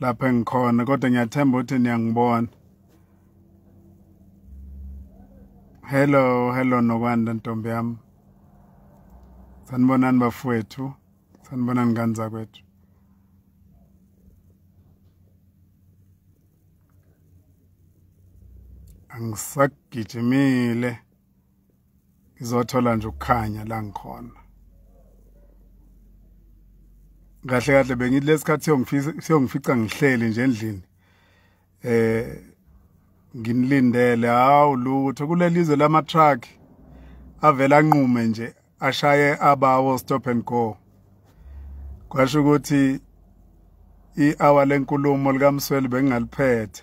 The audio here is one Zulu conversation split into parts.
lapha engikhona kodwa ngiyathemba ukuthi niyangibona hello hello nokwanda ntombi yami sanibonani bafowethu sanibonani ngani zakwethu angisagijimile ngizothola nje ukukhanya la ngikhona kahle kahle bengithi lesikhathi siyongifisa siyongifica ngihleli nje endlini eh nginilindele hawu lutho kulelizwe lama truck avela nqume nje ashaye abawo stop and go kwasho ukuthi i-hour lenkulumo likamsweli bengingaliphethe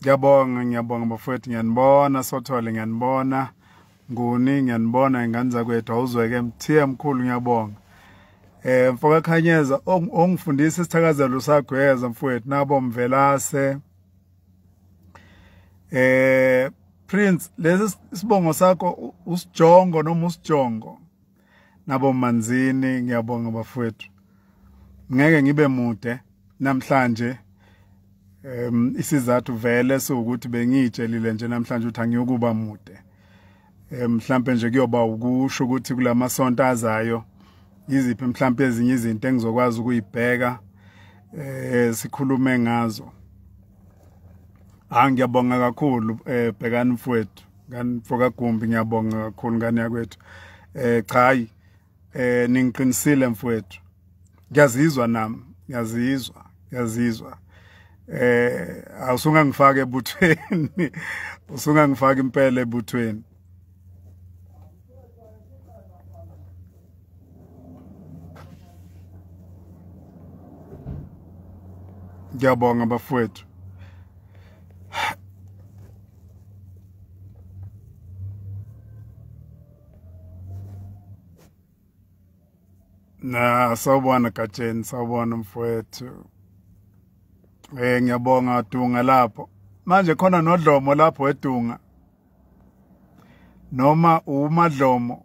ngiyabonga ngiyabonga bafowethu ngiyanibona sothole ngiyanibona nguni ngiyanibona ingane zakwethu awuzweke mthiya mkhulu ngiyabonga eh mfoka khanyeza ongifundisa isithakazelo sagweza mfowethu nabo mvelase eh prince lesi sibongo sakho usijongo noma usijongo nabo manzini ngiyabonga bafowethu ngeke ngibe mude namhlanje um isizathu vele sokuthi bengiyitshelile nje namhlanje ukuthi angiyokuba mude mhlambe nje kuyoba ukusho ukuthi kulamasonto azayo yiziphi mhlambe ezinye izinto engizokwazi ukuyibheka eh sikhulume ngazo Ah ngiyabonga kakhulu eh bhekani mfowethu ngani fokagumbi ngiyabonga kakhulu ngani yakwethu eh cha eh ningiqinisile mfowethu ngiyazizwa nami ngiyazizwa ngiyazizwa eh awusunga ngifake ebuthweni usunga ngifaka impela ebuthweni ngiyabonga bafowethu na sawubona gatsheni sawubona mfowethu eh ngiyabonga dunga lapho manje khona nodlomo lapho edunga noma umadlomo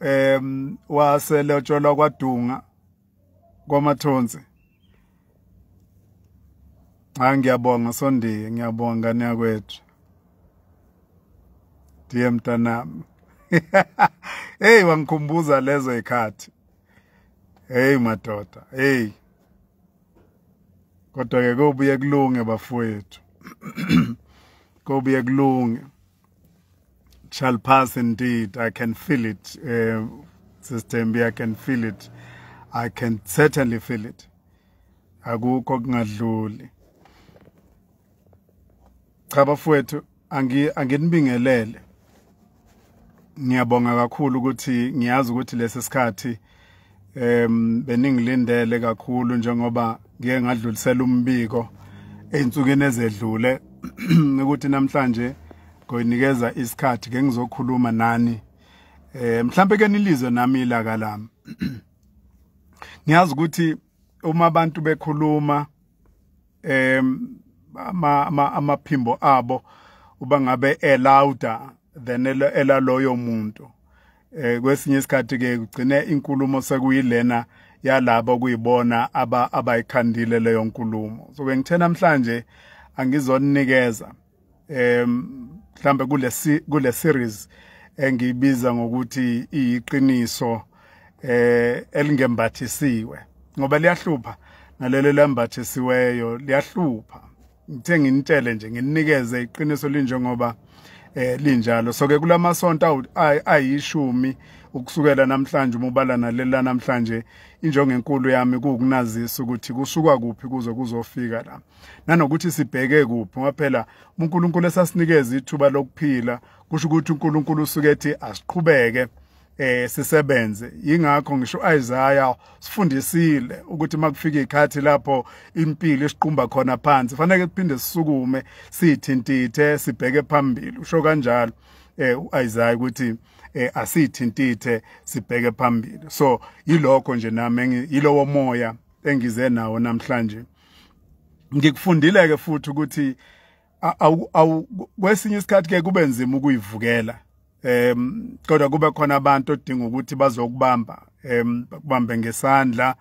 em waselotsholwa kwadunga kwamathonsi Hayi ngiyabonga sondiye ngiyabonga niyakwethu ndiye mntanami hey wangikhumbuza lezo ikhathi hey madoda hey kodwa ke kobuye kulunge bafowethu kobuye kulunge shall pass indeed i can feel it uh, eh, sistembi i can feel it i can certainly feel it akukho kungadluli cha bafowethu angi anginibingelele ngiyabonga kakhulu ukuthi ngiyazi ukuthi lesi sikhathi em beningilindele kakhulu njengoba ngiye ngadlulisela umbiko einsukwini ezedlule ukuthi namhlanje ngoyinikeza isikhathi ke ngizokhuluma nani eh mhlambe ke nilizwe nami ilaka lami ngiyazi ukuthi uma abantu bekhuluma em ama amaphimbo abo uba ngabe elouder than elaloyo muntu eh kwesinye isikhathi ke ugcine inkulumo sekuyilena yalabo kuyibona aba abayikhandile leyo nkulumo so bengithe namhlanje angizonikeza um mhlambe kule kule series engiyibiza ngokuthi iyiqiniso eh elingembathisiwe ngoba liyahlupha nalelo lambathisiweyo liyahlupha ngithe nginitshele nje nginikeze iqiniso linjengoba eh linjalo so ke kulamasonto ayishumi ukusukela namhlanje uma ubala nalela namhlanje injongo enkulu yami kuwukunazisa ukuthi kusukwa kuphi kuze kuzofika la nanokuthi sibheke kuphi ngoba phela uNkulunkulu esasinikeza ithuba lokuphila kusho ukuthi uNkulunkulu usuke ethi asiqhubeke eh sisebenze ingakho ngisho Isaiah sifundisile ukuthi makufika ikhathi lapho impilo isiqumba khona phansi fanele kuphinde sisukume sithintithe sibheke phambili usho kanjalo eh uIsaiah ukuthi eh asithintithe sibheke phambili so yilokho nje nami yilowo moya engize nawo namhlanje ngikufundile ke futhi ukuthi awu kwesinye isikhathi ke kube nzima ukuyivukela em kodwa kube khona abantu odinga ukuthi bazokubamba em bakubambe ngesandla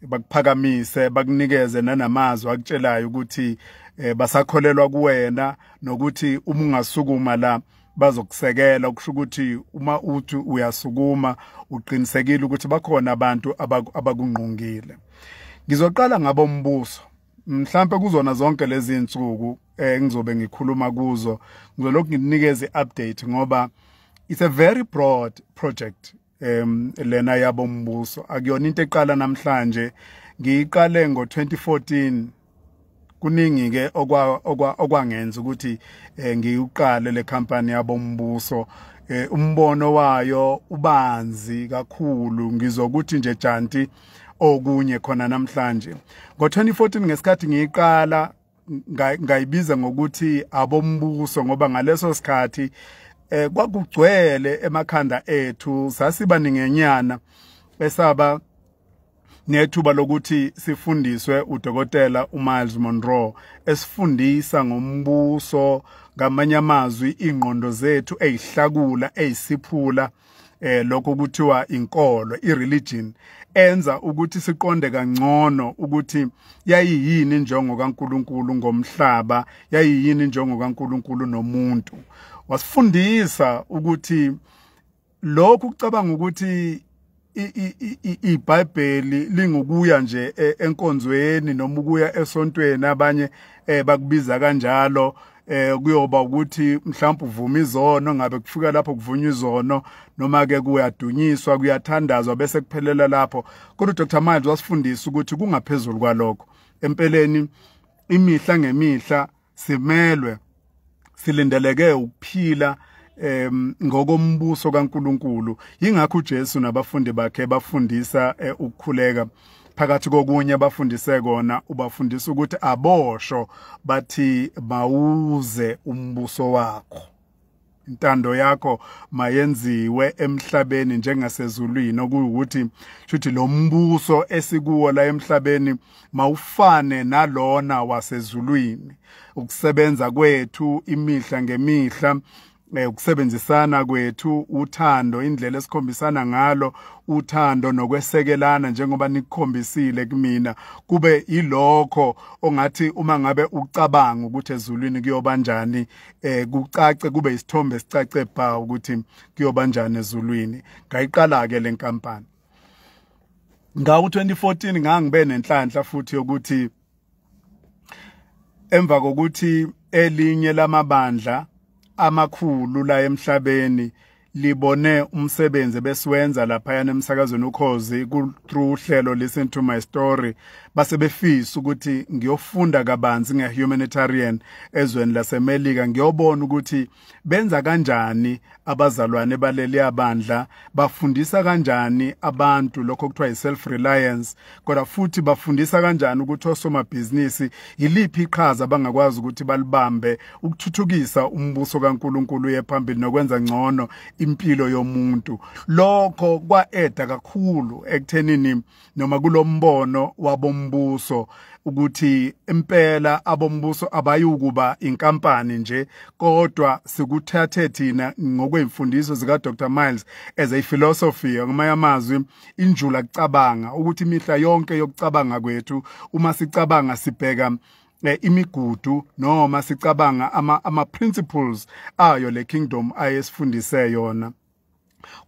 bakuphakamise bakunikeze nanamazwi akutshelayo ukuthi eh, basakholelwa kuwena nokuthi uma ungasukuma la bazokusekela kusho ukuthi uma uthi uyasukuma uqinisekile ukuthi bakhona abantu abakungqongile ngizoqala ngabo mbuso mhlambe kuzona zonke lezi insuku engizobe eh, ngikhuluma kuzo ngizolokhu nginikeze update ngoba it's a very broad project em lena yabo mbuso akuyona into eqala namhlanje ngiyiqale ngo2014 kuningi ke okwa okwangenza ukuthi eh, ngiyiqale le company yabo mbuso eh, umbono wayo ubanzi kakhulu ngizokuthi nje janti okunye khona namhlanje ngo2014 ngesikhathi ngiyiqala ngayibiza ngokuthi abombuso ngoba ngaleso sikhathi eh kwakugcwele emakhanda ethu sasiba ningenyana esaba nethuba lokuthi sifundiswe udokotela uMiles Monroe esifundisa ngombuso ngamanye amazwi ingqondo zethu ezihlakula ezisiphula eh lokho kuthiwa inkolo ireligion enza ukuthi siqonde kangcono ukuthi yayiyini injongo kaNkuluNkulu ngomhlaba yayiyini injongo kaNkuluNkulu nomuntu wasifundisa ukuthi lokhu kucabanga ukuthi iBhayibheli lingukuya nje e, enkonzweni noma ukuya esontweni abanye eh, bakubiza kanjalo eh kuyoba ukuthi mhlawumbe uvuma izono ngabe kufika lapho kuvunywa izono noma ke kuyadunyiswa kuyathandazwa bese kuphelela lapho kodwa uDr Miles wasifundisa ukuthi kungaphezulu kwalokho empeleni imihla ngemihla simelwe silindeleke ukuphila em ngokombuso kaNkuluNkulu ingakho uJesu nabafundi bakhe bafundisa eh, ukukhuleka phakathi kokunye bafundise kona ubafundisa ukuthi abosho bathi mawuze umbuso wakho intando yakho mayenziwe emhlabeni njengasezulwini okuwukuthi shuthi lo mbuso esikuwo la emhlabeni mawufane nalona wasezulwini ukusebenza kwethu imihla ngemihla eh, ukusebenzisana kwethu uthando indlela esikhombisana ngalo uthando nokwesekelana njengoba nikukhombisile kumina kube ilokho ongathi uma ngabe ucabanga ukuthi ezulwini kuyoba njani eh kucace kube isithombe sicace bha ukuthi kuyoba njani ezulwini ngayiqala ke lenkampani ngawo 2014 ngangibe nenhlanhla futhi yokuthi emva kokuthi elinye lamabandla amakhulu la emhlabeni libone umsebenzi besiwenza laphayana emsakazweni ukhozi through uhlelo listen to my story base befisa ukuthi ngiyofunda kabanzi ngehumanitarian ezweni lasemelika ngiyobona ukuthi benza kanjani abazalwane baleli abandla bafundisa kanjani abantu lokho kuthiwa yi-self reliance kodwa futhi bafundisa kanjani ukuthi osomabhizinisi yiliphi iqhaza abangakwazi ukuthi balibambe ukuthuthukisa umbuso kankulunkulu uye phambili nokwenza ngcono impilo yomuntu lokho kwa-eda kakhulu ekuthenini noma kulombono wabombuso ukuthi impela abombuso abayukuba inkampani nje kodwa sikuthathe thina ngokwemfundiso zika Dr Miles as a philosophy ngamanye amazwi injula kucabanga ukuthi imihla yonke yokucabanga kwethu uma sicabanga sibheka eh, imigudu noma sicabanga ama ama principles ayo le kingdom ayesifundise yona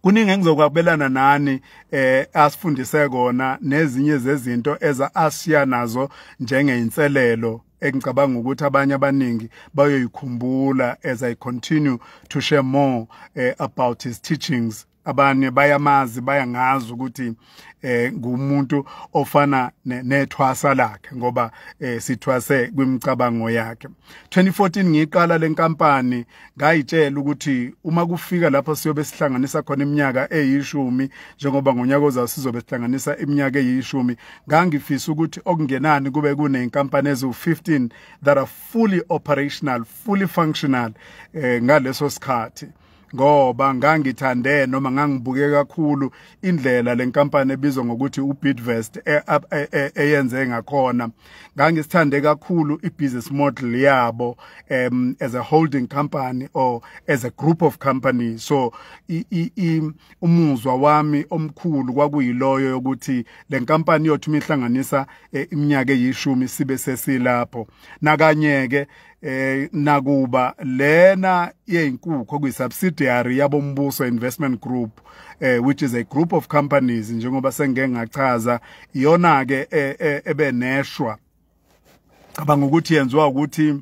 kuningi engizokwabelana nani eh asifundise kona nezinye zezinto eza asiya nazo njengeinselelo engicabanga ukuthi abanye abaningi bayoyikhumbula as i continue to share more eh, about his teachings abanye bayamazi bayangazi ukuthi eh ngumuntu ofana nethwasa lakhe ngoba eh sithwase kwimicabango yakhe 2014 ngiqala lenkampani ngayitshela ukuthi uma kufika lapho siyobe sihlanganisa khona iminyaka eyishumi njengoba ngonyaka ozayo sizobe sihlanganisa iminyaka eyishumi ngangifisa ukuthi okungenani kube kunenkampani ezu 15 that are fully operational fully functional eh ngaleso sikhathi ngoba ngangithande noma ngangibuke kakhulu indlela lenkampani ebizwa ngokuthi uBidvest e, e, e, eyenze ngakhona ngangisithande kakhulu ibusiness model yabo um as a holding company or as a group of companies so i, i, i umuzwa wami omkhulu kwakuyiloyo yokuthi lenkampani yothu mihlanganisa iminyaka eyishumi sibe sesilapho nakanye ke eh nakuba lena yeyinkukhu okuyi subsidiary yabombuso investment group eh which is a group of companies njengoba sengike ngachaza iyona ke eh, eh, ebeneshwa cabanga ukuthi yenziwa ukuthi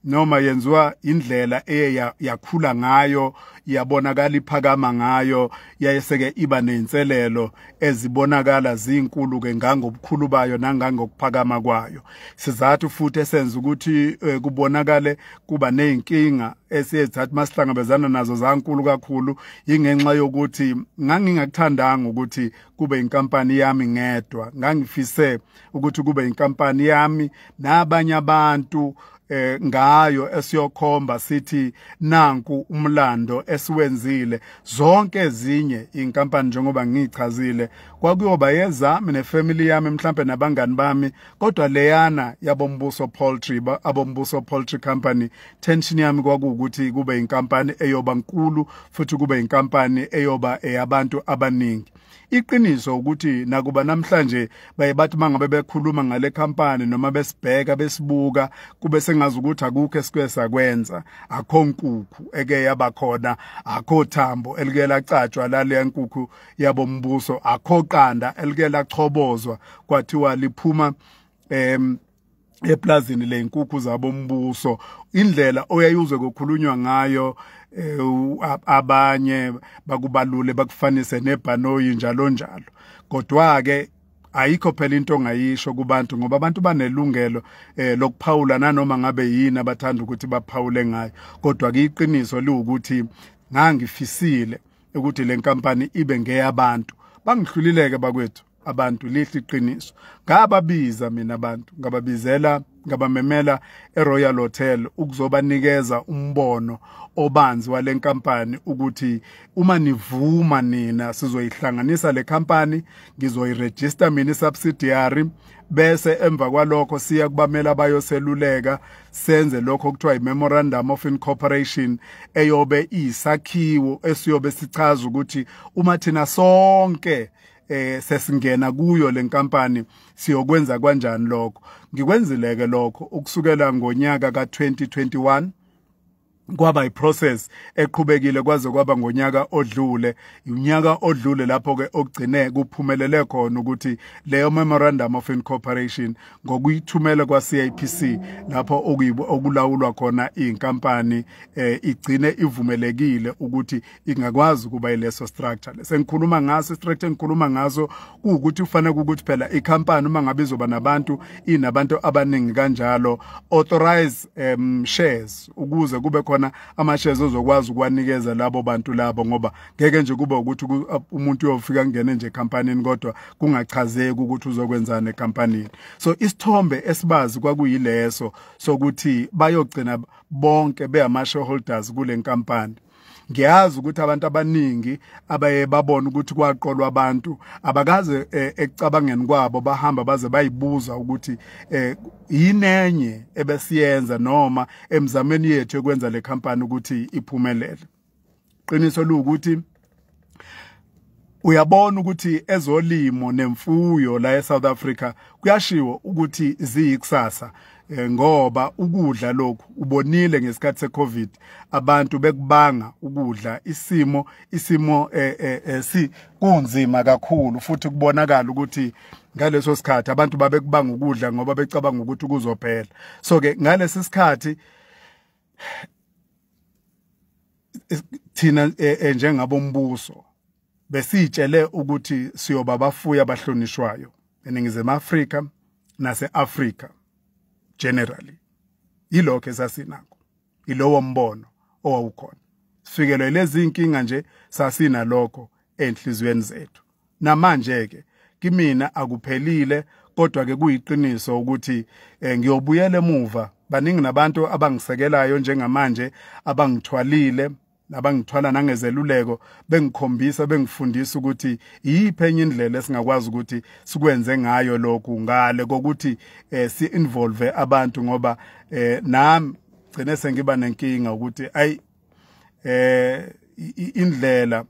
noma yenziwa indlela eye yakhula ngayo yabonakala iphakama ngayo yayeseke iba nenselelo ezibonakala zinkulu ke ngangobukhulu bayo nangangokuphakama kwayo sizathu futhi esenza ukuthi eh, kubonakale kuba nezinkinga esiyezathi masihlangabezana nazo zankulu kakhulu ingenxa yokuthi ngangingakuthandanga ukuthi kube inkampani yami ngedwa ngangifise ukuthi kube inkampani yami nabanye abantu eh ngayo esiyokhomba sithi nanku umlando esiwenzile zonke ezinye inkampani njengoba ngichazile kwakuyoba yezami nefamily yami mhlambe nabangani bami kodwa leyana yabombuso poultry abombuso poultry company tension yami kwakuwukuthi kube inkampani eyoba nkulu futhi kube inkampani eyoba eyabantu abaningi iqiniso ukuthi nakuba namhlanje baye bathi mangabe bekhuluma ngale company noma besibheka besibuka kube sengazi ukuthi akukho esike sakwenza akho nkukhu eke yabakhona akho thambo elike lacatshwa lale nkukhu yabombuso akho qanda elike lachobozwa kwathiwa liphuma em eplazini leyinkukhu zabombuso indlela oyayuzwe kokhulunywa ngayo eh, abanye bakubalule bakufanise nebhanoyi njalo njalo kodwa ke ayikho phela into ongayisho kubantu ngoba abantu banelungelo eh lokuphawula nanoma ngabe yini abathanda ukuthi baphawule ngayo kodwa kuyiqiniso liwukuthi ngangifisile ukuthi lenkampani ibe ngeyabantu bangihlulileke bakwethu abantu lihle iqiniso ngababiza mina abantu ngababizela ngabamemela eRoyal Hotel ukuzobanikeza umbono obanzi walenkampani ukuthi uma nivuma nina sizoyihlanganisa le company ngizoyiregister mina subsidiary bese emva kwalokho siya kubamela abayoseluleka senze lokho kuthiwa i-memorandum of incorporation eyobe iyisakhiwo esiyobe sichaza ukuthi uma thina sonke eh sesingena kuyo lenkampani siyokwenza kanjani lokho ngikwenzile ke lokho ukusukela ngonyaka ka2021 kwaba iprocess eqhubekile kwaze kwaba ngonyaka odlule unyaka odlule lapho ke ogcine kuphumelele khona ukuthi leyo memorandum of incorporation ngokuyithumela kwa CIPC lapho okulawulwa khona inkampani eh, igcine ivumelekile ukuthi ingakwazi ukuba ileso structure sengikhuluma ngaso structure engikhuluma ngaso ukuthi kufanele ukuthi phela ikhampani uma ngabe izoba nabantu inabantu abaningi kanjalo authorize um, shares ukuze kube khona ama shares ozokwazi ukwanikeza labo bantu labo ngoba ngeke nje kube ukuthi umuntu uyofika ngene nje ekampanini kodwa kungachazeki ukuthi uzokwenzana ekampanini so isithombe esibazi kwakuyileso sokuthi bayogcina bonke beyama shareholders kule nkampani ngiyazi ukuthi abantu abaningi abaye babona ukuthi kwaqolwa abantu abakaze eh, ekucabangeni kwabo bahamba baze bayibuza ukuthi eh, yinenye ebesiyenza noma emzameni yethu ekwenza le company ukuthi iphumelele qiniso luwukuthi uyabona ukuthi ezolimo nemfuyo la eSouth Africa kuyashiwo ukuthi ziyikusasa eh, ngoba ukudla lokhu ubonile ngesikhathi seCovid abantu bekubanga ukudla isimo isimo eh, eh, eh si kunzima kakhulu futhi kubonakala ukuthi ngaleso sikhathi abantu babekubanga ukudla ngoba becabanga ukuthi kuzophela so ke ngalesi sikhathi thina e, e, njengabombuso besitshele ukuthi siyoba bafuya abahlonishwayo eningizimu Afrika nase-Afrika generally yilokho esasinakho yilowo mbono owawukhona sifikelwe lezi inkinga nje sasinalokho enhliziyweni zethu namanje-ke kimina akuphelile kodwa-ke kuyiqiniso ukuthi um ngiyobuyela emuva baningi nabantu abangisekelayo njengamanje abangithwalile abangithwala nangezeluleko bengikhombisa bengifundisa ukuthi iyiphi enye indlela esingakwazi ukuthi sikwenze ngayo lokhu ngale kokuthi eh, si-involve abantu ngoba eh, nami gcine sengiba nenkinga ukuthi ayi eh indlela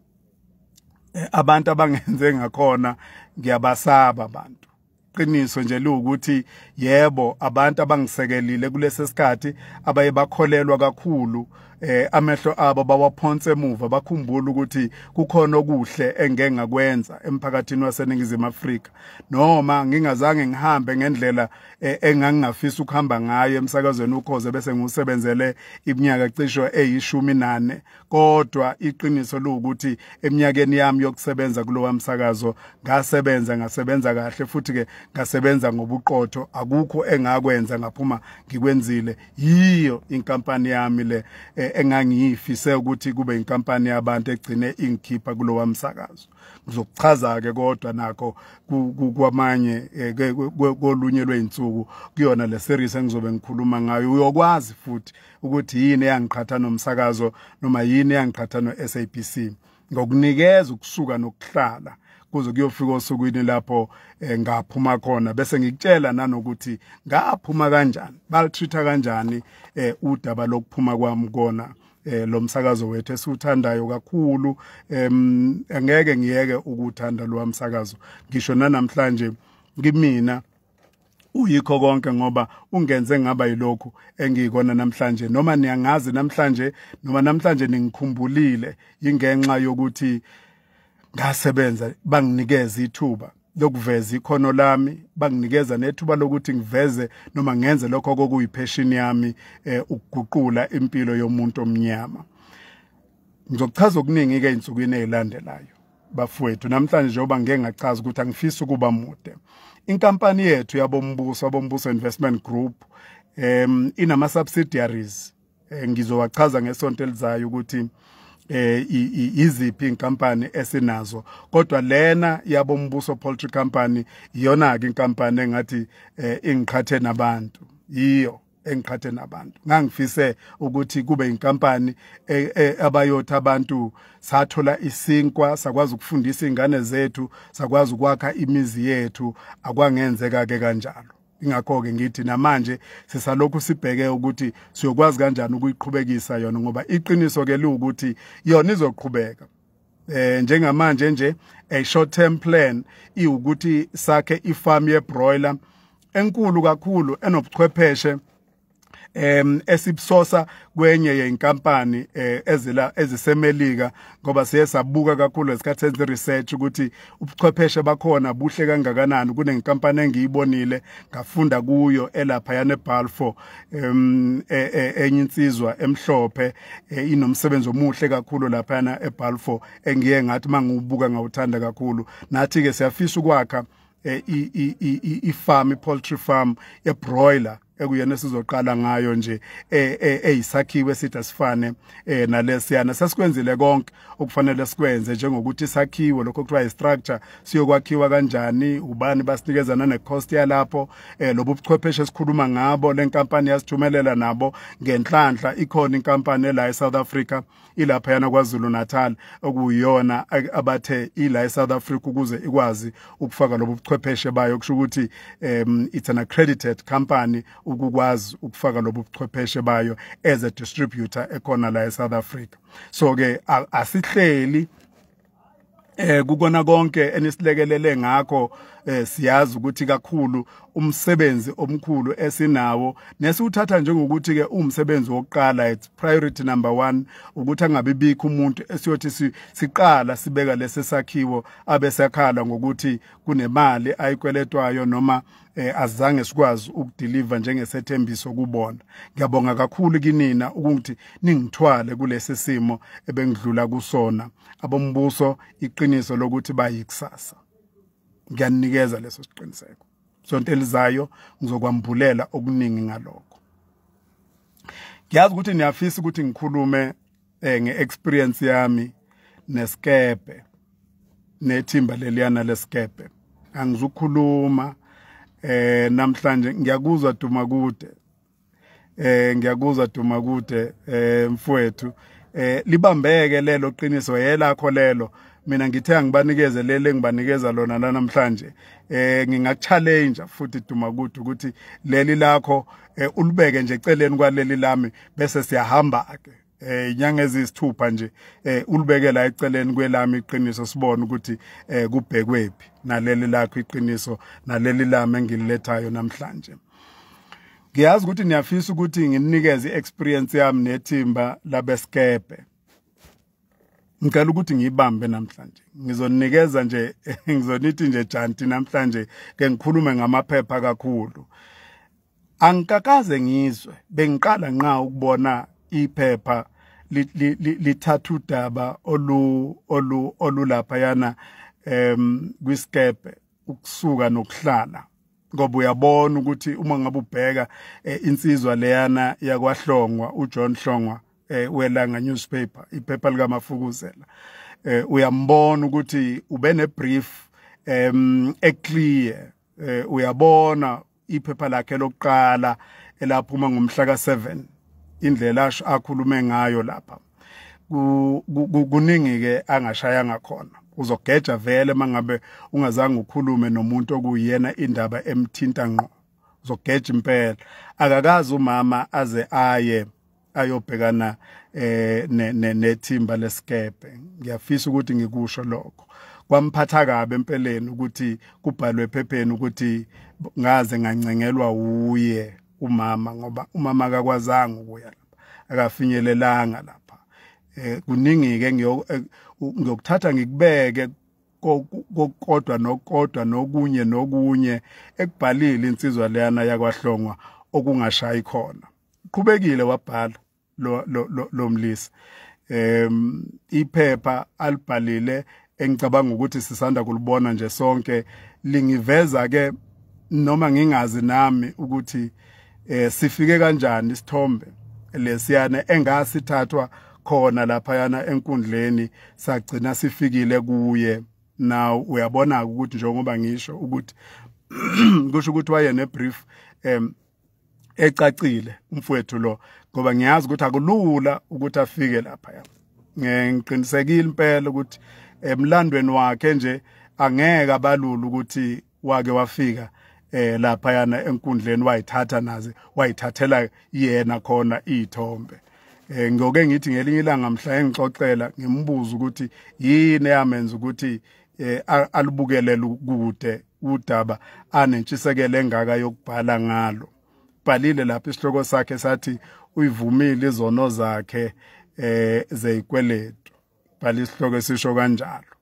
eh, abantu abangenze ngakhona ngiyabasaba abantu qiniso nje liwukuthi yebo abantu abangisekelile kulesi sikhathi abaye bakholelwa kakhulu eh amehlo abo bawaphonse emuva bakhumbula ukuthi kukhona okuhle engengakwenza emphakathini waseningizimu Afrika noma ngingazange ngihambe ngendlela e, engangingafisa ukuhamba ngayo emsakazweni ukhoze bese ngiwusebenzele iminyaka cisho eyishumi nane kodwa iqiniso liwukuthi eminyakeni yami yokusebenza kulowa msakazo ngasebenza ngasebenza kahle futhi ke ngasebenza ngobuqotho akukho engakwenza ngaphuma ngikwenzile yiyo inkampani yami le e, engangiyifise ukuthi kube inkampani yabantu egcine ingikhipha kulowa msakazo ngizokuchaza-ke kodwa nakho kwamanye eh, kolunye lwey'nsuku kuyona le series engizobe ngikhuluma ngayo uyokwazi futhi ukuthi yini eyangiqhatha nomsakazo noma yini eyangiqhatha no-sabc ngokunikeza ukusuka nokuhlala kuze kuyofika osukwini lapho eh, ngaphuma khona bese ngikutshela nanokuthi ngaphuma kanjani balitreat kanjani eh, udaba lokuphuma kwami kona eh lo msakazo wethu esiwuthandayo kakhulu em angeke ngiyeke ukuthanda lo msakazo ngisho nanamhlanje kimina uyikho konke ngoba ungenze ngaba yilokhu engiyikona namhlanje noma niyangazi namhlanje noma namhlanje ningikhumbulile ingenxa yokuthi ngasebenza banginikeza ithuba lokuveza ikhono lami banginikeza nethuba lokuthi ngiveze noma ngenze lokho kokuyipheshini yami eh, ukuguqula impilo yomuntu omnyama ngizochaza okuningi ke insukwini ezilandelayo bafowethu namhlanje njengoba ngeke ngachaza ukuthi angifisi ukuba mude inkampani yethu yabombuso abombuso investment group um inama subsidiaries eh, ngizowachaza ngesonto elizayo ukuthi eh iziphi inkampani esinazo kodwa lena yabo mbuso poultry company iyona ke inkampani engathi eh, ingiqhathe nabantu yiyo engiqhathe nabantu ngangifise ukuthi kube inkampani e, e, abayothi abantu sathola isinkwa sakwazi ukufundisa ingane zethu sakwazi ukwakha imizi yethu akwangenzeka ke kanjalo ingakho-ke ngithi namanje sisalokhu sibheke ukuthi siyokwazi kanjani ukuyiqhubekisa yona ngoba iqiniso-ke liwukuthi yona izoqhubeka eh njengamanje nje a short term plan iwukuthi sakhe ifarm ye broiler enkulu kakhulu enobuchwepheshe em esipsosa kwenye yenkampani eh, ezila ezisemelika ngoba siye sabuka kakhulu esikhathi senze research ukuthi ubuchwepheshe bakhona buhle kangakanani kunenkampani engiyibonile ngafunda kuyo elapha yane Balfour em e, e, enye insizwa emhlophe e, inomsebenzi omuhle kakhulu lapha yana eBalfour engiye ngathi mangibuka ngawuthanda kakhulu nathi ke siyafisa ukwakha ifarm ipoultry farm yebroiler ekuyena sizoqala ngayo nje eh, eh, eyisakhiwe sithi asifane eh, nalesiyana sesikwenzile konke okufanele sikwenze njengokuthi sakhiwe lokho kuthiwa istructure siyokwakhiwa kanjani ubani basinikezana necost yalapho lobu buchwepheshe esikhuluma ngabo lenkampani yasithumelela nabo ngenhlanhla ikhona inkampani la eSouth Africa ilaphayana kwazulu natal okuyiyona abathe ila esouth africa ukuze ikwazi ukufaka lobu buchwepheshe bayo kusho ukuthi um, it's an accredited company ukukwazi ukufaka lobu buchwepheshe bayo as a distributor ekhona la esouth africa so-ke asihleli eh kukona konke enisilekelele ngakho eh siyazi ukuthi kakhulu umsebenzi omkhulu esinawo nesiwuthatha njengokuthi ke umsebenzi wokuqala it's priority number 1 ukuthi angabe bikho umuntu esiyothi siqala sibeka lesesakhiwo abesakhala ngokuthi kunemali ayikweletwayo noma eh azange sikwazi ukudeliver njengesethembiso kubona ngiyabonga kakhulu kinina ukuthi ningithwale kulesi simo ebengidlula kusona abombuso iqiniso lokuthi bayikusasa ngiyanikeza leso siqiniseko sonto elizayo ngizokwambulela okuningi ngalokho ngiyazi ukuthi niyafisa ukuthi ngikhulume eh nge experience yami neskepe nethimba leliyana leskepe angizukhuluma eh namhlanje ngiyakuzwa duma kude eh ngiyakuzwa duma kude eh mfowethu eh libambeke lelo qiniso yelakho lelo mina ngithe angibanikeze leli engibanikeza lona la namhlanje eh ngingakuchallenge futhi duma kuthi ukuthi leli lakho eh, ulibeke nje eceleni kwaleli lami bese siyahamba ke eh inyanga ezisithupha nje eh ulibekela eceleni kwelami iqiniso sibone ukuthi eh kubhekwephi naleli lakho iqiniso naleli lami engililethayo namhlanje ngiyazi ukuthi niyafisa ukuthi nginikeze i-experience yami nethimba labesikepe ngicela ukuthi ngiyibambe namhlanje ngizonikeza nje ngizonithi nje janti namhlanje ke ngikhulume ngamaphepha kakhulu angikakaze ngizwe bengiqala nqa ukubona iphepha lithatha udaba olu olu olulapha yana em kwiskepe ukusuka nokuhlala ngoba uyabona ukuthi uma ngabe ubheka eh, insizwa leyana yakwahlongwa uJohn Hlongwa eh welanga newspaper iphepha lika Mafukuzela eh uyambona ukuthi ube ne brief em eclear eh uyabona iphepha lakhe lokuqala elaphuma ngomhla ka7 indlela asho akhulume ngayo lapha kuningi ke angashaya ngakhona uzogeja vele mangabe ungazange ukhulume nomuntu okuyena indaba emthinta ngqo uzogeja impela akakazi umama aze aye ayobhekana eh nethimba lesikebhe ngiyafisa ukuthi ngikusho lokho kwamphatha kabi empeleni ukuthi kubhalwe ephepheni ukuthi ngaze ngancengelwa wuye umama ngoba umama akakwazanga ukuya lapha akafinyelelanga lapha eh kuningi ke eh, ngiyokuthatha ngikubeke kokodwa nokodwa nokunye nokunye ekubhalile insizwa leyana yakwahlongwa okungashayi khona qhubekile wabhala lo lo lomlisa em iphepha alibhalile engicabanga ukuthi sisanda kulibona nje sonke lingiveza ke noma ngingazi nami ukuthi eh sifike kanjani isithombe lesiyana engasithathwa khona lapha yana enkundleni sagcina sifikile kuye now uyabona ukuthi njengoba ngisho ukuthi kusho ukuthi waye ne brief em ecacile umfowethu lo ngoba ngiyazi ukuthi akulula ukuthi afike lapha ya ngiqinisekile impela ukuthi emlandweni wakhe nje angeke abalula ukuthi wake wafika eh lapha yana enkundleni wayithatha naze wayithathela yena khona izithombe eh ngoke ngithi ngelinye ilanga mhla engixoxela ngimbuza ukuthi yini eyamenza ukuthi eh alubukelele kude udaba anentshisekelo engaka yokubhala ngalo bhalile lapha isihloko sakhe sathi uyivumile izono zakhe eh zeyikweletu bhala isihloko esisho kanjalo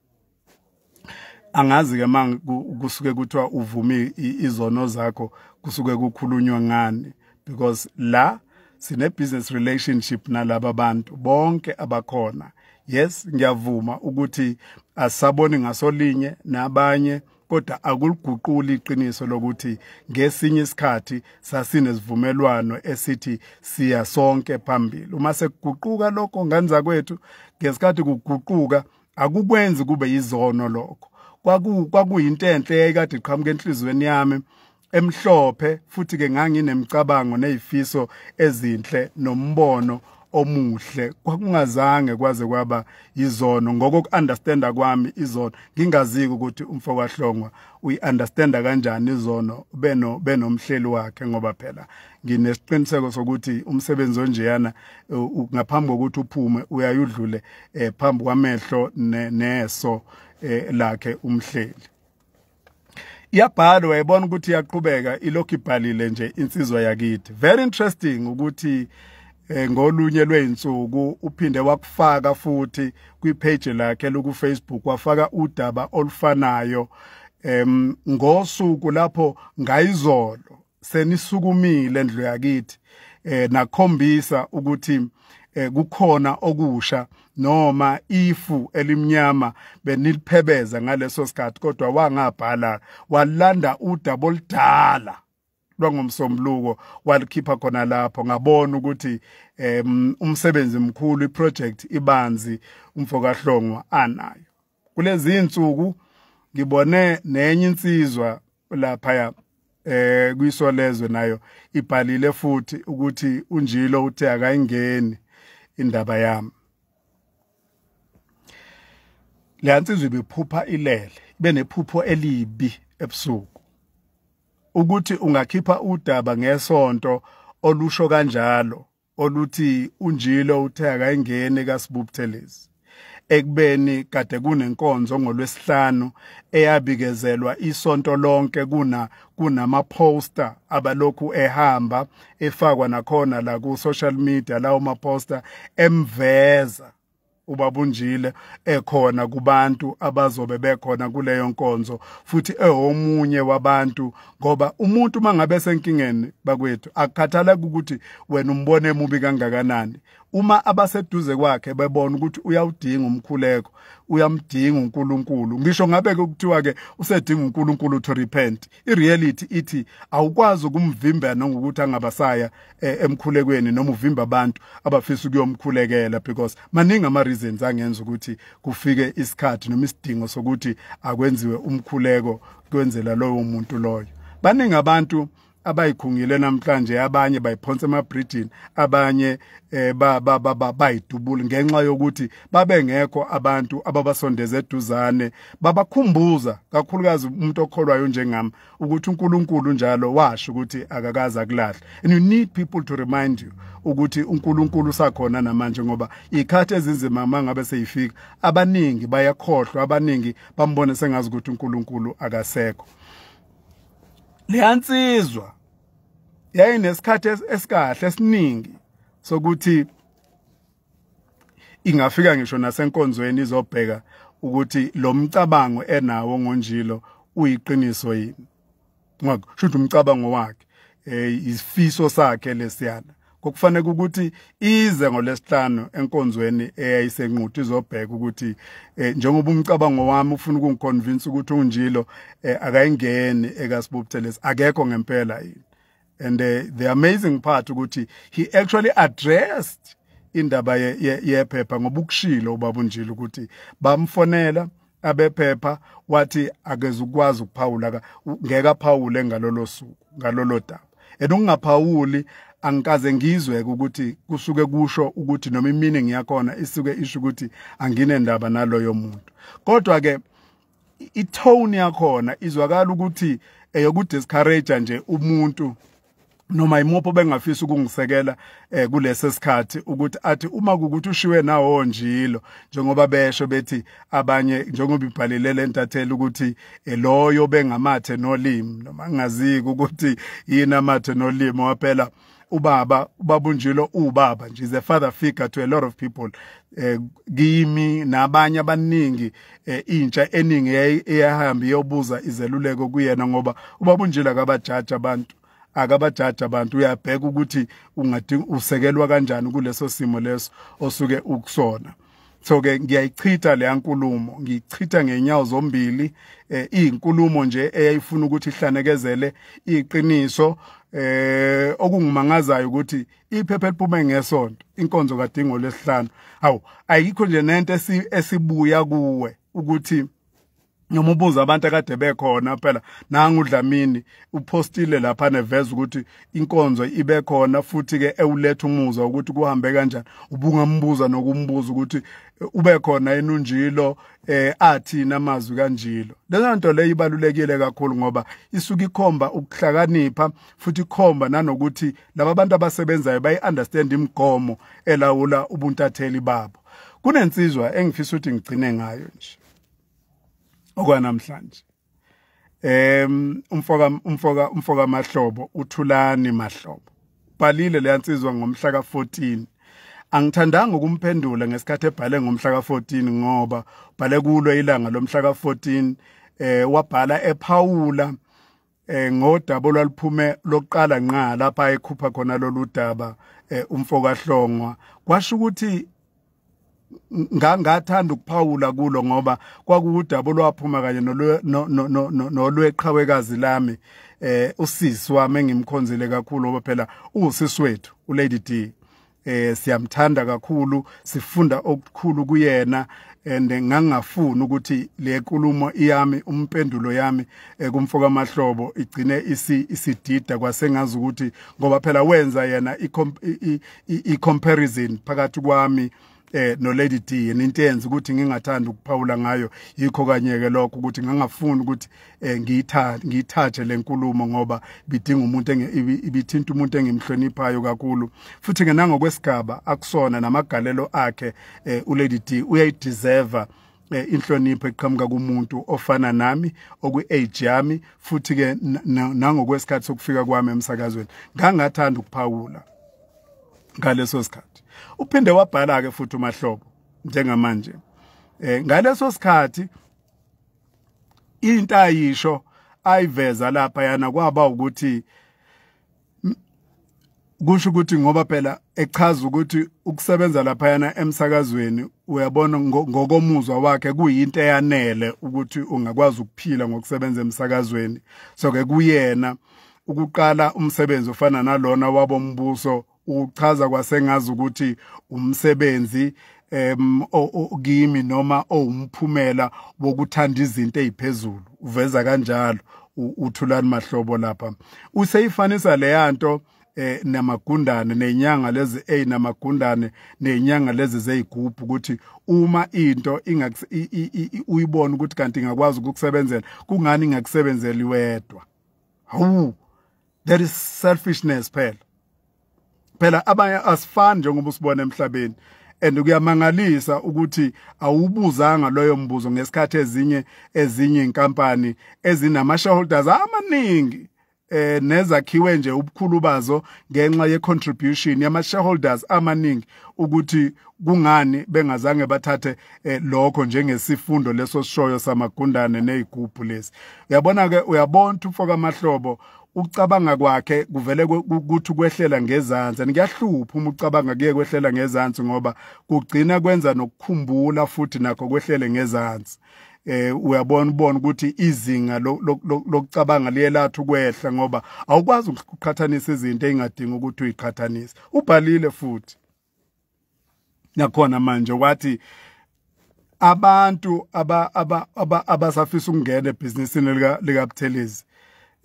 angazi ke manje kusuke kuthiwa uvumi izono zakho kusuke kukhulunywa ngani because la sine business relationship nalaba bantu bonke abakhona yes ngiyavuma ukuthi asaboni ngasolinye nabanye kodwa akuliguquli iqiniso lokuthi ngesinye isikhathi sasinesivumelwano esithi siya sonke phambili uma sekuguquka lokho ngenza kwethu ngesikhathi kuguquka akukwenzi kube yizono lokho kwakuyinto enhle eyayikade iqhamuka enhliziyweni yami emhlophe futhi ke nganginemicabango nezifiso ezinhle nombono omuhle kwakungazange kwaze kwaba izono ngokuunderstanda kwami izono ngingaziki ukuthi umfo kwahlongwa uyiunderstanda kanjani izono beno benomhleli wakhe ngoba phela nginesiqiniseko sokuthi umsebenzi onjeyana ngaphambi kokuthi uphume uyayudlule eh, phambi kwamehlo neso eh, lakhe umhleli iyabhalwa uyayibona ukuthi iyaqhubeka ilokhu ibhalile nje insizwa yakithi very interesting ukuthi eh, ngolunye lweyinsuku uphinde wakufaka futhi kwipage lakhe loku Facebook wafaka udaba olufanayo em ngosuku lapho ngayizolo senisukumile endlu yakithi eh nakhombisa ukuthi eh kukhona okusha noma ifu elimnyama beniliphebeza ngaleso sikhathi kodwa wangabhala walanda udaba oludala lwangomsombuluko walikhipha khona lapho ngabona ukuthi um umsebenzi mkhulu iproject ibanzi umfokahlongwa anayo kulezi insuku ngibone nenye insizwa laphaya eh kwisolezwe nayo ibhalile futhi ukuthi unjilo uthe akayingeni indaba yami le nsizwa ibiphupha ilele ibe nephupho elibi ebusuku ukuthi ungakhipha udaba ngesonto olusho kanjalo oluthi unjilo uthe akayingeni kasibubuthelezi ekubeni kade kunenkonzo ngolwesihlanu eyabikezelwa isonto lonke kuna kunama poster abalokhu ehamba efakwa nakhona la ku social media lawo ma poster emveza ubabunjile ekhona kubantu abazobe bekhona kuleyo nkonzo futhi ehomunye wabantu ngoba umuntu mangabe senkingeni bakwethu akukhathaleki ukuthi wena umbone emubi kangakanani uma abaseduze kwakhe bebona ukuthi uyawudinga umkhuleko uyamdinga uNkulunkulu ngisho ngabe ke kuthiwa ke usedinga uNkulunkulu to repent ireality ithi awukwazi ukumvimba nangokuthi angabasaya eh, emkhulekweni noma uvimba abantu abafisa ukuyomkhulekela because maningi ama reasons angenza ukuthi kufike isikhathi noma isidingo sokuthi akwenziwe umkhuleko kwenzela lowo muntu loyo baningi abantu abayikhungile namhlanje abanye bayiphonsa emabridgini abanye eh ba ba ba bayidubula ngenxa yokuthi babengekho abantu ababasondeze eduzane babakhumbuza kakhulukazi umuntu okholwayo njengami ukuthi uNkulunkulu njalo washo ukuthi akakaze akulahle and you need people to remind you ukuthi uNkulunkulu usakhona namanje ngoba ikhathi ezinzima uma ngabe seyifika abaningi bayakhohlwa abaningi bambone sengazi ukuthi uNkulunkulu akasekho leyansizwa yayinesikhathi esikahle esiningi sokuthi ingafika ngisho nasenkonzweni izobheka ukuthi lo mcabango enawo ngonjilo uyiqiniso yini ngoba shuthi umcabango wakhe eh isifiso sakhe lesiyana kokufanele ukuthi ize ngolesihlanu enkonzweni eyayisenquthu izobheka ukuthi eh, njengoba umcabango wami ufuna ukungiconvince ukuthi unjilo eh, akayingeni ekasibubuthelesi akekho ngempela yini and uh, the amazing part ukuthi he actually addressed indaba yephepha ye, ye ngoba ukushilo ubaba unjile ukuthi bamfonela abephepha wathi akeze ukwazi ukuphawula ngeke aphawule ngalolo suku ngalolo daba and ungaphawuli angikaze ngizwe ukuthi kusuke kusho ukuthi noma iminingi yakhona isuke isho ukuthi anginendaba naloyo muntu kodwa ke i tone yakhona izwakala ukuthi eyoku discourage nje umuntu noma imupho bengafisa ukungisekela eh kulesi sikhathi ukuthi athi uma ukuthi ushiwe nawo njilo njengoba besho bethi abanye njengoba ibhalile lentathela ukuthi eh, loyo bengamathe nolimi noma ngingaziki ukuthi yini amathe nolimi waphela ubaba ubabunjilo ubaba nje is a father figure to a lot of people eh kimi nabanye abaningi eh, intsha eningi eyahamba iyobuza izeluleko kuyena ngoba ubabunjilo akabajaji abantu akabajaji abantu uyabheka ukuthi ungadinga usekelwa kanjani kuleso simo leso osuke ukusona so ke ngiyayichitha leya nkulumo ngiyichitha ngenyawo zombili eh izinkulumo nje eyayifuna ukuthi ihlanekezele iqiniso eh okungimangazayo ukuthi iphepha eliphume ngesonto inkonzo kadingo lesihlanu awu ayikho nje nento esibuya kuwe ukuthi noma ubuza abantu akade bekhona phela nanga uDlamini upostile lapha neveza ukuthi inkonzo ibe khona futhi ke ewuletha umuzwa ukuthi kuhambe kanjani ubungambuza nokumbuza ukuthi eh, ube khona enunjilo eh athi namazwi kanjilo lena nto le ibalulekile kakhulu ngoba isuke ikhomba ukuhlakanipha futhi ikhomba nanokuthi laba bantu abasebenzayo bayi understand imigomo elawula ubuntatheli babo kunensizwa engifisa ukuthi ngigcine ngayo nje okwanamhlanje em umfoka umfoka umfoka mahlobo uthulani mahlobo balile leyansizwa ngomhla ka14 angithandanga ukumphendula ngesikhathi ebhale ngomhla ka14 ngoba bhale kulo ilanga lomhla ka14 eh wabhala ephawula eh ngodaba olwaluphume lokuqala nqa lapha ekhupha khona lolu daba eh, umfokahlongwa kwasho ukuthi ngangathanda ukuphawula kulo ngoba kwakuwudaba olwaphuma kanye nolweqhawekazi lami eh usisi wami engimkhonzile kakhulu ngoba phela uwusisi wethu ulady D eh siyamthanda kakhulu sifunda okukhulu kuyena and ngangafuni ukuthi le nkulumo iyami umpendulo yami eh, kumfoka mahlobo igcine isi isidida kwasengazi ukuthi ngoba phela wenza yena i comparison phakathi kwami eh no Lady D into yenza ukuthi ngingathanda ukuphawula ngayo yikho kanye ke lokho ukuthi ngangafuni ukuthi eh ngiyithathe ngiyithathe lenkulumo ngoba bidinga umuntu ibithinta umuntu engimhloniphayo kakhulu futhi ke nangokwesigaba akusona namagalelo akhe eh, u Lady D uyayideserve eh, inhlonipho eqhamuka kumuntu ofana nami okwi-age yami futhi ke nangokwesikhathi sokufika kwami emsakazweni ngangathanda ukuphawula ngaleso sikhathi uphinde wabhala ke futhi umahlobo njengamanje eh ngaleso sikhathi into ayisho ayiveza lapha yana kwaba ukuthi kusho ukuthi ngoba phela echaza ukuthi ukusebenza lapha yana emsakazweni uyabona ngokomuzwa wakhe kuyinto eyanele ukuthi ungakwazi ukuphila ngokusebenza emsakazweni so ke kuyena ukuqala umsebenzi ofana nalona wabombuso uchaza kwasengazi ukuthi umsebenzi em kimi noma owumphumela wokuthanda izinto eziphezulu uveza kanjalo uthulani mahlobo lapha useyifanisa leyanto eh namagundane nenyanga lezi a namagundane nenyanga lezi zeyigubhu ukuthi uma into uyibona ukuthi kanti ingakwazi ukukusebenzela kungani ingakusebenzeli wedwa hawu that is selfishness phela phela abanye asifani njengoba usibona emhlabeni and kuyamangalisa ukuthi awubuzanga loyo mbuzo ngesikhathi ezinye ezinye inkampani ezinama shareholders amaningi eh nezakhiwe nje ubukhulu bazo ngenxa ye contribution yama shareholders amaningi ukuthi kungani bengazange bathathe eh, lokho njengesifundo leso sishoyo samagundane nezigubhu lezi uyabona ke uyabona umfo kamahlobo ucabanga kwakhe kuvele ukuthi kwehlela ngezansi and kuyahlupha uma ucabanga kuye kwehlela ngezansi ngoba kugcina kwenza nokukhumbula futhi nakho kwehlele ngezansi eh uyabona ubona ukuthi izinga lokucabanga liyelatha ukwehla ngoba awukwazi ukuqhathanisa izinto engadingi ukuthi uyiqhathanise ubhalile futhi nakhona manje wathi abantu abasafisa ukungena ebhizinisini likabuthelezi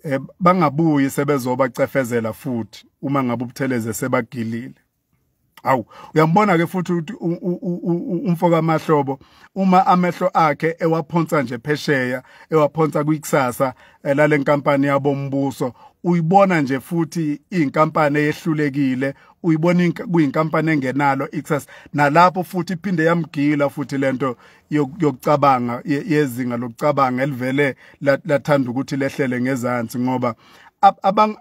um eh, bangabuyi sebezobacefezela futhi uma ngabe ubuthelezi sebagilile Awu uyambona ke futhi ukuthi umfoka amahlobo uma amehlo akhe ewaphonsa nje phesheya ewaphonsa kwikusasa eh, lale nkampani yabombuso uyibona nje futhi inkampani eyehlulekile uyibona kuyinkampani engenalo ikusasa nalapho futhi iphinde yamgila futhi lento yokucabanga yezinga lokucabanga elivele lathanda ukuthi lehlele ngezansi ngoba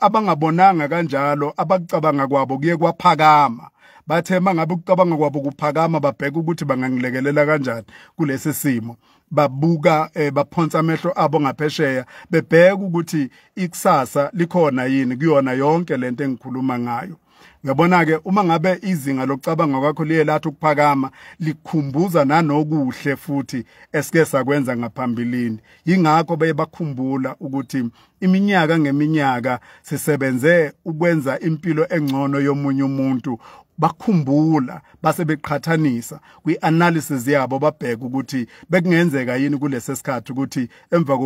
abangabonanga kanjalo abakucabanga kwabo kuye kwaphakama bathe mangabe ukucabanga kwabo kuphakama babheka ukuthi bangangilekelela kanjani kulesi simo babuka eh, baphonsa amehlo abo ngaphesheya bebheka ukuthi ikusasa likhona yini kuyona yonke lento engikhuluma ngayo Ngiyabona-ke uma ngabe izinga lokucabanga kwakho liye lathi ukuphakama likhumbuza nanokuhle futhi esike sakwenza ngaphambilini. Yingakho beye bakhumbula ukuthi iminyaka ngeminyaka sisebenze ukwenza impilo engcono yomunye umuntu bakhumbula base beqhathanisa kwi-analysis yabo babheke ukuthi bekungenzeka yini kulesi sikhathi ukuthi emva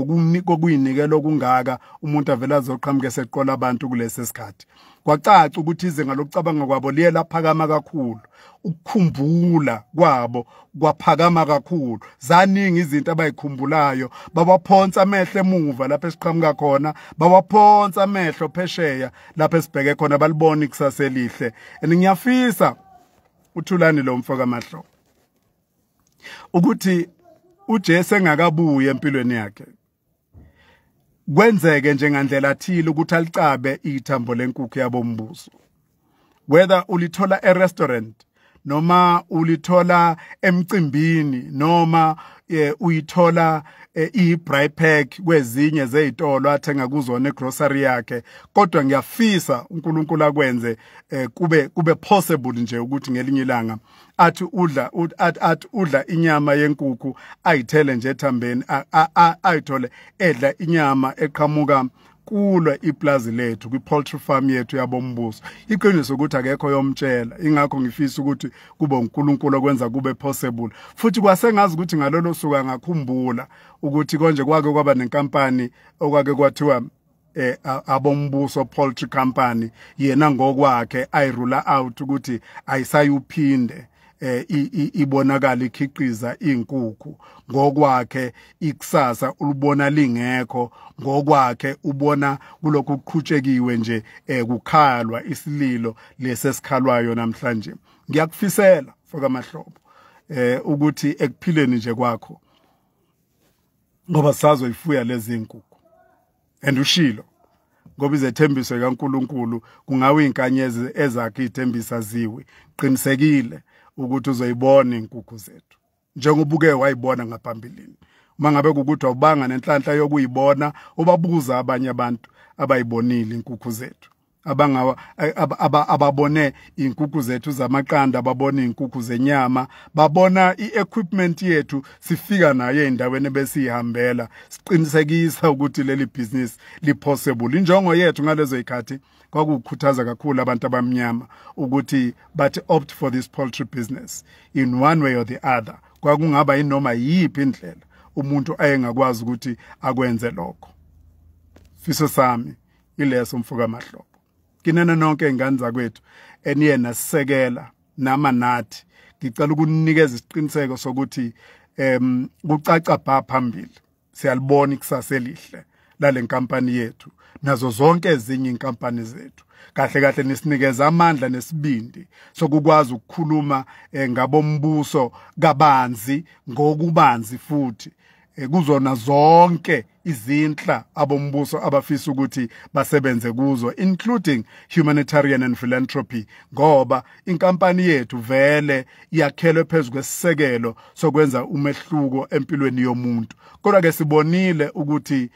kokuyinikela okungaka umuntu avele azoqhamuke seqola abantu kulesi sikhathi kwacaca ukuthi izinga lokucabanga kwabo liye laphakama kakhulu ukukhumbula kwabo kwaphakama kakhulu zaningi izinto abayikhumbulayo bawaphonsa amehlo emuva lapho esiqhamuka khona bawaphonsa amehlo phesheya lapho esibheke khona balibona ikusasa elihle and ngiyafisa uthulani lo mfo kamahlo ukuthi uJesu engakabuye empilweni yakhe kwenzeke njengandlela thile ukuthi alicabe ithambo lenkukhu yabombuso whether ulithola e-restaurant noma ulithola emcimbini noma eh, uyithola eh, i-bry pack kwezinye zezitolo athenga kuzona egrocery yakhe kodwa ngiyafisa uNkulunkulu akwenze eh, kube kube possible nje ukuthi ngelinye ilanga athi udla athi udla inyama yenkukhu ayithele nje ethambeni ayithole edla inyama eqhamuka kulwa iplazi lethu kwi-poultry farm yethu yabombuso iqiniso ukuthi akekho yomtshela ingakho ngifisa ukuthi kube uNkulunkulu okwenza kube possible futhi kwasengazi ukuthi ngalolo suku angakhumbula ukuthi konje kwake kwaba nenkampani okwake kwathiwa eh abombuso poultry company yena ngokwakhe i rule out ukuthi ayisayuphinde eh ibonakala ikhiqiza inkukhu ngokwakhe ikusasa ulibona lingekho ngokwakhe ubona kulokhu kuqhutshekiwe nje eh kukhalwa isililo lesesikhalwayo namhlanje ngiyakufisela foka mahlobo eh ukuthi ekuphileni nje kwakho ngoba sazoyifuya lezi nkukhu and ushilo ngoba izethembiso kaNkuluNkulu kungawe inkanyezi ezakhe ithembisa ziwi qinisekile ukuthi uzoyibona inkukhu zethu njengoba uke wayibona ngaphambilini uma ngabe kukuthi awubanga nenhlanhla yokuyibona ubabuza abanye abantu abayibonile inkukhu zethu abangawa ababone inkukhu zethu zamaqanda babone inkukhu zenyama babona iequipment yethu sifika nayo endaweni besihambela siqinisekisa ukuthi leli business lipossible injongo yethu ngalezo ikhathi kwakukhuthaza kakhulu abantu abamnyama ukuthi bathi opt for this poultry business in one way or the other kwakungaba inoma yiphi indlela umuntu ayengakwazi ukuthi akwenze lokho fiso sami ileso mfoka mahlobo kinene nonke ingane zakwethu eniye nasisekela nama nathi ngicela ukunikeza isiqiniseko sokuthi em kucaca bha phambili siyalibona ikusasa elihle lale nkampani yethu nazo zonke ezinye inkampani zethu kahle kahle nisinikeza amandla nesibindi sokukwazi ukukhuluma eh, ngabombuso kabanzi ngokubanzi futhi eh, kuzona zonke izinhla abombuso abafisa ukuthi basebenze kuzo including humanitarian and philanthropy ngoba inkampani yethu vele yakhelwe phezulu kwesisekelo sokwenza umehluko empilweni yomuntu kodwa ke sibonile ukuthi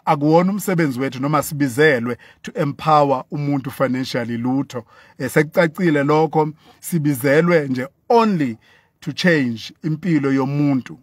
akuwona umsebenzi wethu noma sibizelwe to empower umuntu financially lutho eh, sekucacile lokho sibizelwe nje only to change impilo yomuntu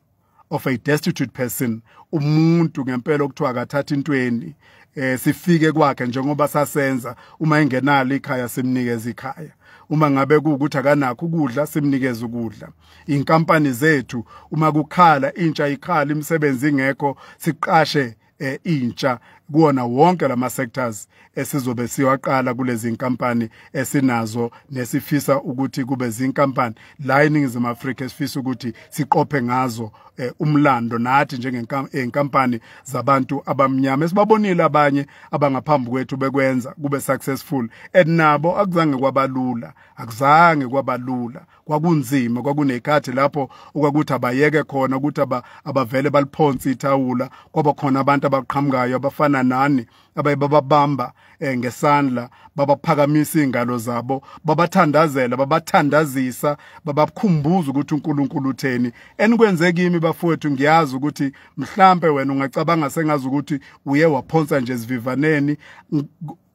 of a destitute person umuntu ngempela okuthiwa akathatha intweni eh sifike kwakhe njengoba sasenza uma engenalo ikhaya simnikeza ikhaya uma ngabe kuukuthi akanakho ukudla simnikeza ukudla inkampani zethu uma kukhala intsha ikhala imisebenzi ingekho siqashe eh, intsha kuwona wonke lama sectors esizobe siwaqala kulezi nkampani esinazo nesifisa ukuthi kube zinkampani la eningizimu Afrika esifisa ukuthi siqophe ngazo eh, umlando nathi njengenkampani eh, zabantu abamnyama esibabonile abanye abangaphambi kwethu bekwenza kube successful and nabo akuzange kwabalula akuzange kwabalula kwakunzima kwakunekhathi lapho okwakuthi abayeke khona ukuthi abavele baliphonse ithawula kwaba khona abantu abaqhamukayo abafana nani abaye bababamba eh, ngesandla babaphakamisa izingalo zabo babathandazela babathandazisa babakhumbuza ukuthi uNkulunkulu utheni enikwenze kimi bafowethu ngiyazi ukuthi mhlambe wena ungacabanga sengazi ukuthi uye waphonsa nje sivivaneni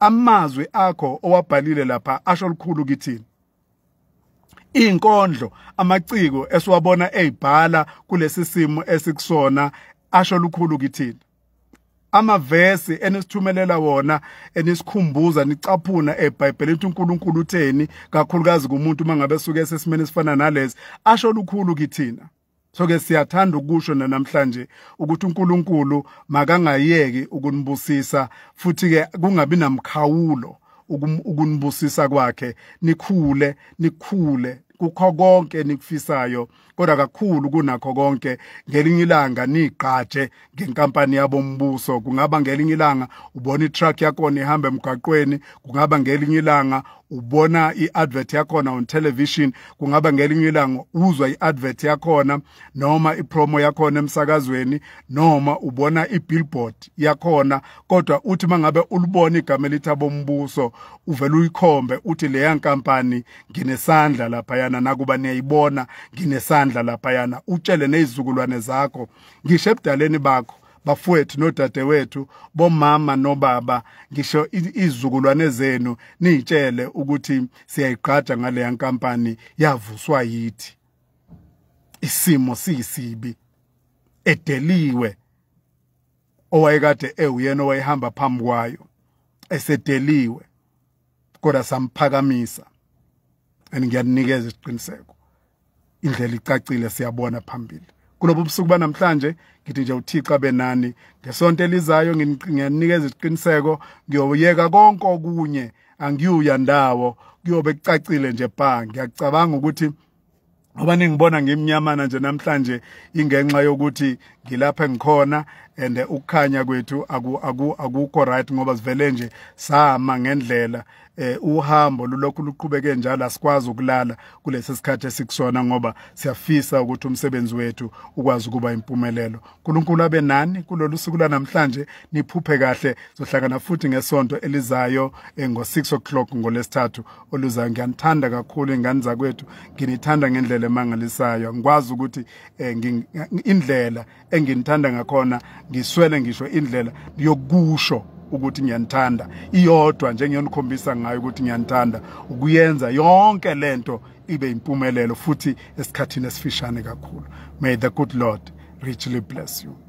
amazwi akho owabhalile lapha asho likhulu kithini inkondlo amaciko esiwabona ezibhala kulesi simo esikusona asho lukhulu kithina amavesi enisithumelela wona enisikhumbuza nicaphuna eBhayibhelini ukuthi uNkulunkulu utheni kakhulukazi kumuntu mangabe suke sesimene sifana nalezi asho lukhulu kithina so ke siyathanda ukusho nanamhlanje ukuthi uNkulunkulu makangayeki ukunibusisa futhi ke kungabi namkhawulo ukunibusisa kwakhe nikhule nikhule kukho konke nikufisayo kodwa kakhulu kunakho konke ngelinye ilanga nigqaje ngenkampani yabombuso kungaba ngelinye ilanga ubona itruck yakhona ihamba emgaqweni kungaba ngelinye ilanga ubona iadvert yakhona on television kungaba ngelinye ilanga uzwa iadvert yakhona noma ipromo yakhona emsakazweni noma ubona ibillboard yakhona kodwa uthi mangabe ulibona igama elithi abombuso uvela uyikhombe uthi leya nkampani nginesandla lapha yana nakuba niyayibona nginesandla lapha yana utshele nezizukulwane zakho ngisho ebudaleni bakho bafowethu nodadewethu bomama nobaba ngisho izizukulwane zenu niyitshele ukuthi siyayigqaja ngaleya nkampani yavuswa yithi isimo siyisibi edeliwe owayekade ewuyena owayehamba phambi kwayo esedeliwe kodwa samphakamisa and ngiyaninikeza isiqiniseko indlela icacile siyabona phambili kulobu busuku banamhlanje ngithi nje uThixo abenani ngesonto elizayo ngiyanikeza isiqiniseko ngiyoyeka konke okunye angiyuya ndawo kuyobe kucacile nje bha ngiyacabanga ukuthi ngoba ningibona ngimnyamana nje namhlanje ingenxa yokuthi ngilapha engikhona and ukukhanya kwethu akukho right ngoba sivele nje sama ngendlela eh uhambo lulokhu luqhubeke njalo asikwazi ukulala kulesi sikhathi esikusona ngoba siyafisa ukuthi umsebenzi wethu ukwazi ukuba impumelelo uNkulunkulu abe nani kulolu suku lanamhlanje niphuphe kahle sohlangana futhi ngesonto elizayo eh, ngo 6 o'clock ngolesithathu oluzayo ngiyanithanda kakhulu ingane zakwethu nginithanda ngendlela emangalisayo ngikwazi ukuthi eh, indlela enginithanda ngakhona ngiswele ngisho indlela yokusho ukuthi ngiyanithanda iyodwa nje ngiyonikhombisa ngayo ukuthi ngiyanithanda ukuyenza yonke lento ibe impumelelo futhi esikhathini esifishane kakhulu may the good lord richly bless you